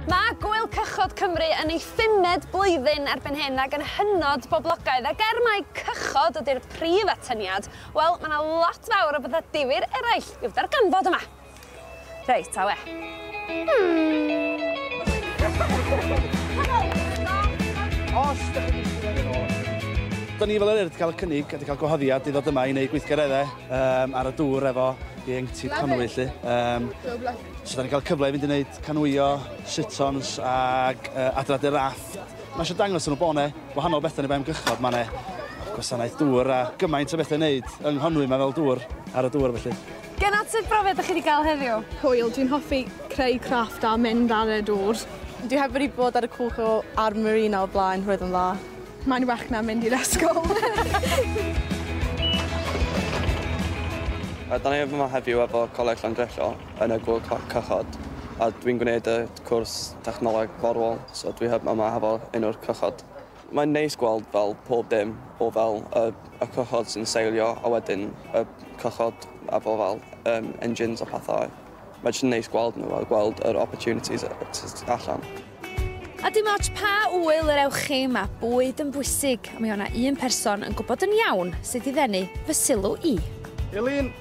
Mae Gŵyl Cychod Cymru yn ei phumed blwyddyn erbyn hyn ac yn hynod boblogaidd ac er mai cychod ydy'r prif atyniad, wel, mae 'na lot fawr o bethau difyr eraill i'w darganfod yma! Reit, awe. Os da chi'n Da ni fel yr wedi cael y cynnig a wedi cael gwahoddiad i ddod yma i wneud gweithgareddau um, ar y dŵr efo ieuenctid Conwy, lle. Um, so, da ni'n cael cyfle i fynd i wneud canwio, sitons ac uh, adradu raff. Mae eisiau dangos yn y bone, wahanol bethau ni fe ymgychod, mae yna gwasanaeth dŵr a gymaint o bethau wneud yng Nghonwy mae fel dŵr ar y dŵr felly. Gan at sut brofiad dych chi wedi cael heddiw? Hwyl, dwi'n hoffi creu crafft a mynd ar y dŵr. Dwi heb wedi bod ar y cwch o a'r marina o'r blaen, roedd yn dda. Mae'n well na mynd i'r ysgol. Rydan ni yma heddiw efo Coleg Llandrillo yn y Gŵyl Cychod a dwi'n gwneud y cwrs Technoleg Forwrol so dwi yma hefo un o'r cychod. Mae'n neis gweld fel pob dim o fel y y cychod sy'n seilio a wedyn y cychod a fo fel yym engines a pethau. Mae jyst yn neis gweld nhw a gweld yr opportunities yy t- t- tu allan. A dim ots pa ŵyl yr ewch chi, mae bwyd yn bwysig a mi o' 'na un person yn gwybod yn iawn sut i ddenu fy sylw i. Elin!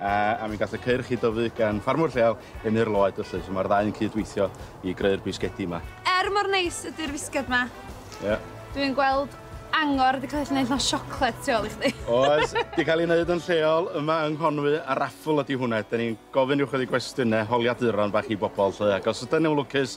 a mi gath y ceir chi dyfu gan ffarmwr lleol yn Nir Lloyd felly, so mae'r ddau yn cydweithio i greu'r bisgedi yma. Er mor neis ydy'r fisged ma. Ie. Dwi'n gweld angor wedi cael ei wneud mewn siocled tu ôl i chdi. Oes, wedi cael ei wneud yn lleol yma yng Nghonwy a raffl ydy hwnna. Da ni'n gofyn ychydig gwestiynau holiaduron bach i bobl 'lly ac os ydyn nhw'n lwcus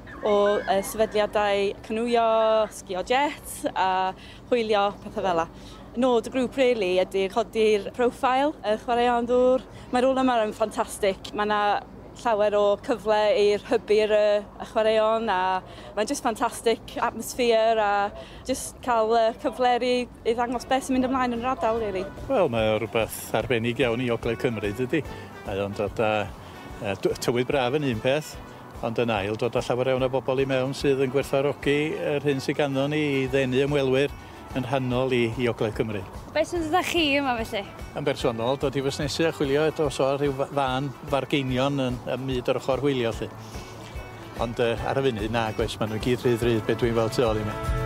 O sefydliadau canŵio, sgïo jets a hwylio, pethau fel 'na. Nod y grŵp rili ydy codi'r profile y chwaraeon ddŵr. Mae'r rôl yma yn ffantastig. Mae 'na llawer o cyfle i hybu y chwaraeon a mae'n jyst ffantastig, atmosphere a jyst cael y cyfle i ddangos beth sy'n mynd ymlaen yn yr ardal rili. Wel mae o rywbeth arbennig iawn i ogledd Cymru dydi? Mae o'n dod â yy tywydd braf yn un peth Ond yn ail, dod â llawer iawn o bobl i mewn sydd yn gwerthfawrogi yr hyn sydd ganddo ni i ddenu ymwelwyr yn rhannol i i Ogledd Cymru. Beth sy'n dod â chi yma felly? Yn bersonol, dod i fusnesu a chwilio eto os oa rhyw fân fargeinion yn ym myd yr ochr hwylio 'lly. Ond yy ar y funud, nag oes, ma' nw i gyd rhy ddrud be' dwi'n weld tu ôl i mi.